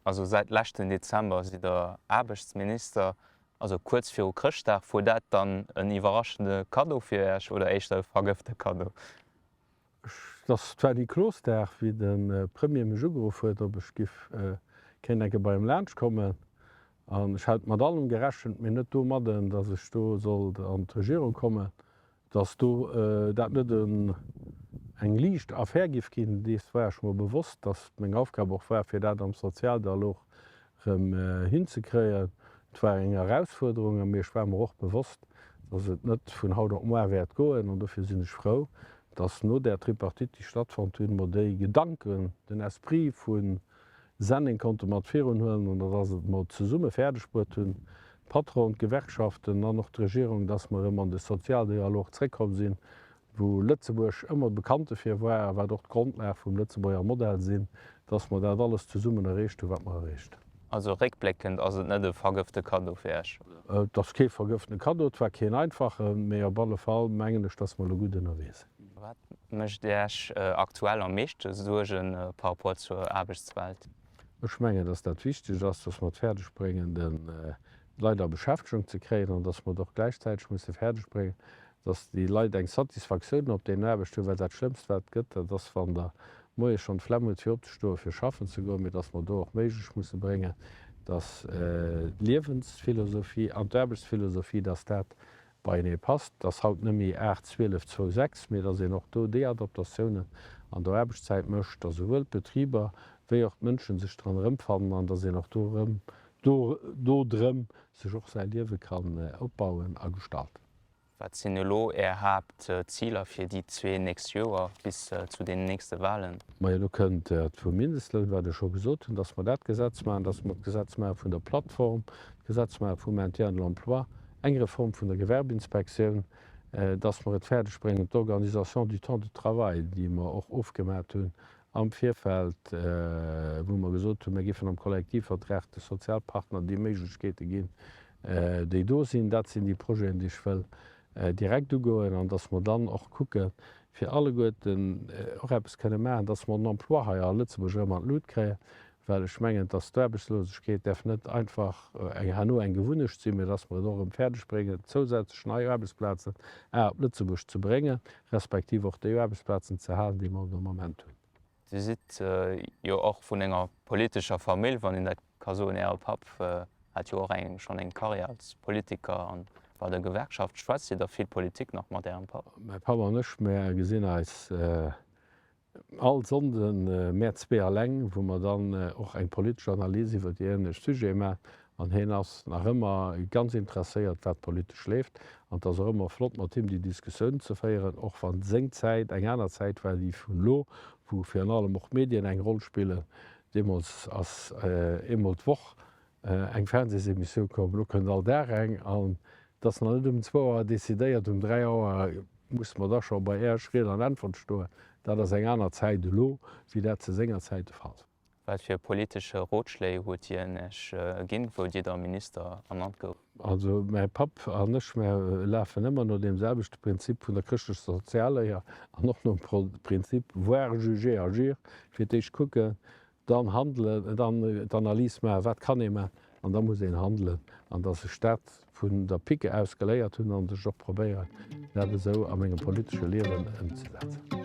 Also säit leschten Dezember sidd der Aarbechtsminister. Also kuerz viru Chrëschtdag, wor dat dann en iwwerraschende Kaddo fir Iech oder éischter e vergëfte Kaddo? Et ass zwar ni Klosdag, wéi de Premier mech ugeruff huet, ob ech giff kéint enke bei him laanscht kommen. An ech hat mat allem gerechent, mee net domadden, datt ech do sollt an d'Regierung kommen. Datt do dat net eng liicht Affär giff ginn, dees war ech mer bewosst. Datt meng Aufgab och war, fir dat am Sozialdialog rëm hinzekréien. Et war eng Erausfuerderung a mir, ech war mer och bewosst, dass et net vun haut op muar wäert goen an dofir sinn ech frou, dass no där Tripartite, déi stattfonnt hunn, mer déi Gedanken, den Esprit vu Senneng konnte mat virunhuelen an dass et mer zesumme fäerdegbruet hunn, Patron, d'Gewerkschaften an och d'Regierung, dass mer rëm an de Sozialdialog zréckkomm sinn wou Lëtzebuerg ëmmer bekannt dofir war a wat och d'Grondlag vum Lëtzebuerger Modell sinn, dass mer dat alles zesummen erreecht hunn, wat mer erreecht. Also réckbléckend ass et net e vergëfte Kaddo fir Esch? Et ass kee vergëftene Kaddo, et war keen einfachen, mee op alle Fall mengen ech, dass mer elo gutt ënnerwee sinn. Wat mécht Iech aktuell am meeschte Suerge par rapport zur Aarbechtswelt? Ech mengen, dass dat wichteg ass, dass mer et fäerdeg bréngen, de Leit a Beschäftegung ze kréien an dass mer et och gläichzäiteg musse fäerdeg bréngen, Dass déi Leit eng Satisfactioun op deen Aarbecht hunn, well dat schlëmmst wat et gëtt, dat ass wann der moies schonn d'Flemm hutt fir opzestoen, fir schaffen ze goen, mee dass mer do och méiglech musse bréngen, dass d'Liewensphilosophie an d'Aarbechtsphilosophie, dass dat beienee passt, dass haut net méi aacht, zwielef, zwou, sechs, mee dass een och do déi Adaptatiounen an der Aarbechtszäit mécht, dass esouwuel d'Betriber wéi och d'Mënschen sech dran erëmfannen an dass een och do drëm sech och säi Liewe kann opbauen a gestalten. Wat sinn elo Är Haaptziler fir déi zwee nächst Joer bis zu deenen nächste Wahlen? Majo, elo kënnt dat vum Mindestloun, wat ech scho gesot hunn, dass mer dat Gesetz maachen, dass mer d'Gesetz maache vun der Plattform, d'Gesetz maache vum Maintien de l'emploi, eng Reform vun der Gewerbeinspektioun, dass mer et fäerdeg bréngen, d'Organisation du temps de travail, déi mer och ofgemat hunn am Virfeld, wou mer gesot hunn, mir géifen am Kollektivvertrag de Sozialpartner déi Méiglechkeete ginn, déi do sinn, dat sinn déi Projeten, déi ech wëll direkt ugoen, an datt mer dann och kucke fir alleguerten och eppes kënne maachen, datt mer den Emploi hei a Lëtzebuerg erëm an d'Lut kréien, well ech mengen, datt d'Aarbechtslosegkeet däerf net einfach herno eng Gewunnecht sinn, mä datt mer et och erëm fäerdeg bréngen, zousätzlech nei Aarbechtsplazen a op Lëtzebuerg ze bréngen, respektiv och déi Aarbechtsplazen ze halen, déi mer de Moment hunn. Dir sidd jo och vun enger politescher Famill, wann een dat ka soen. Äre Papp hat jo och schonn eng Karriär als Politiker a bei der Gewerkschaft. Schwätzt Dir da vill Politik nach mat Ärem Papp? Mäi Papp an ech, mer gesinn eis all Sonnden, mär zwee alleng, wou mer dann och eng politesch Analys iwwer déi énlech Sujete maachen. An hien ass nach ëmmer ganz interesséiert, wat politesch leeft. An et ass och ëmmer flott, mat him déi Diskussioun ze féieren, och wa seng Zäit eng aner Zäit war, déi vun elo, wou virun allem och d'Medien eng Roll spillen. Deemools ass eemol d'Woch eng Fernseesemissioun komm, elo kënnt all Dag eng. An et ass nach net um zwou Auer decidéiert, um dräi Auer musse mer da scho bei Iech Ried an Äntwert stoen. Dat ass eng aner Zäit elo, wéi dat zu senger Zäit de Fall war. Wat fir politesche Rotschléi huet hien Iech ginn, wou Dir da Minister ernannt gouft? Also mäi Papp an ech, mär lafen ëmmer no deem selwechte Prinzip vun der chrëschtlescher Sozialléier an och nom Prinzip voir, juger, agir, fir d'éischt kucken, dann handelen, dann d'Analys maachen, wat kann ee maachen, an da muss een handelen. An datt sech dat vun der Pike aus geléiert hunn an ech och probéieren, dat esou a mengem politesche Liewen ëmzesetzen.